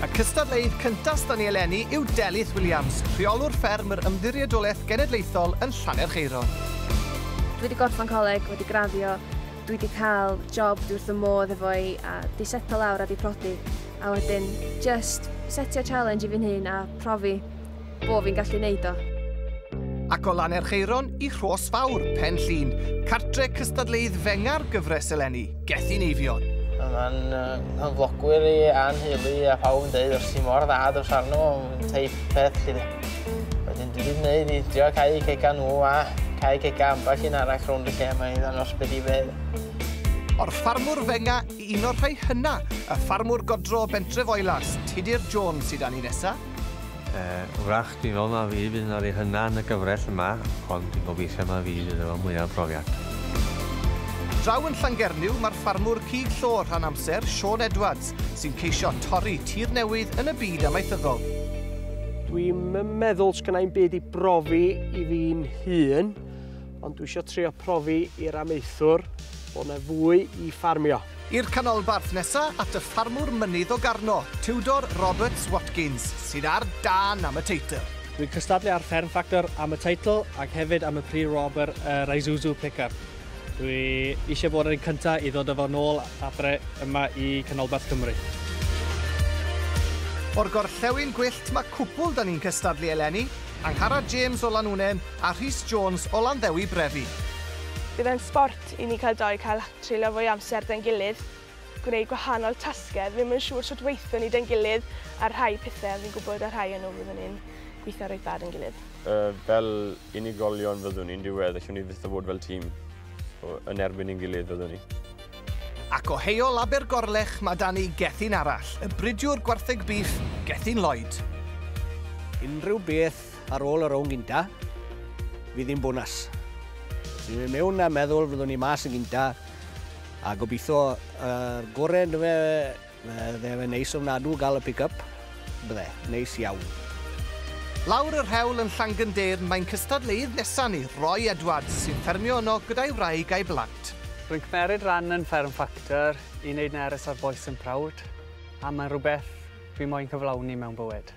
Y cystadleuydd cyntaf s'da ni eleni yw Delyth Williams, rheolwr fferm yr Ymddiriedolaeth Genedlaethol yn Llanerchaeron. Dwi 'di gorffan coleg, wedi graddio, dwi 'di cael job dwi wrth y modd efo i a 'di setlo lawr a 'di prodi a wedyn jyst setio challenge i fi'n hun a profi bo fi'n gallu neud o. Ac o Lanerchaeron i Rhos Fawr, Pen Llŷn, cartre cystadleuydd fenga'r gyfres eleni, Gethin Eifion. Mae'n hyflogwyr i a'n heulu a phawb yn dweud os ti mor dda dros arno, yn teip peth chi dde. Wedyn dwi wedi gwneud i drio cael eu cega nhw a cael cega ambell un arall rownd y lle yma i ddangos beth i fedd. O'r ffarmwr fenga i un o'r rhai hynna, y ffarmwr godro o bentref Oelas, Tudur Jones sydd â ni nesa. Yy, wrach, dwi'n meddwl na fi fydd yn yrru hynna yn y gyfrell yma, ond dwi'n gobeithio na fi fydd efo mwya profiad. Draw yn Llangernyw, mae'r ffarmwr cig llo rhan amser, Siôn Edwards, sy'n ceisio torri tir newydd yn y byd amaethyddol. Dwi'm yn meddwl sgynnai'm byd i brofi i fi'n hun, Ond dwi isio trio profi i'r amaethwr bod 'na fwy i ffarmio. I'r canolbarth nesa at y ffarmwr mynydd o Garno, Tudor Roberts Watkins, sydd ar dân am y teitl. Dwi'n cystadlu ar Fferm Ffactor am y teitl ac hefyd am y Prix Robert yr Isuzu Pickup. Dwi eisiau bod yn cyntaf i ddod â fo nôl adre yma i canolbarth Cymru. O'r gorllewin gwyllt mae cwpwl 'da ni'n cystadlu eleni. Angharad James o Lanwnnen a Rhys Jones o Landdewi Brefi. Bydd e'n sbort i ni cael dou cael treulio fwy o amser 'da'n gilydd, gwneud gwahanol tasgau, ddim yn siŵr sut weithio ni 'da'n gilydd ar rhai pethau ond fi'n gwybod ar rhai o nhw fyddwn ni'n gweithio reit dda 'da'n gilydd. Fel unigolion fyddwn ni'n diweddar, allwn ni fyth fod fel tîm yn erbyn ein gilydd fyddwn ni. Ac o Heol Abergorlech ma da ni Gethin arall, y bridiwr gwartheg bîff, Gethin Lloyd. Unrhyw beth ar ôl y rownd gynta, fydd hi'n bonas. Dwi'n mynd mewn a meddwl fyddwn ni mas yn gynta, a gobeithio y gorau yn dyfe Bydde fe'n neis ofnadw gael y pick-up, bydde, neis iawn. Lawr yr hewl yn Llangyndyrn mae'n cystadleuydd nesa ni, Roy Edwards, sy'n ffermio yno gyda'i wraig a'i blant. Rwy'n cymeryd ran yn Fferm Factor i wneud nerys ar bois yn prowd, a mae'n rhywbeth fi moyn cyflawni mewn bywyd.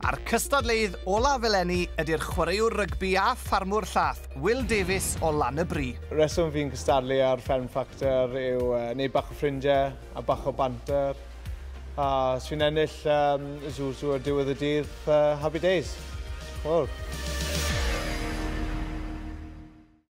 A'r cystadleuydd olaf eleni ydi'r chwaraewr rygbi a ffarmwr llath, Will Davies o Lan-y-bri. Y rheswm fi'n cystadlu ar Fferm Ffactor yw wneud bach o ffrindiau a bach o banter. A os fi'n ennill um, Zoo Zoo ar diwedd y dydd, uh, happy days. Wel.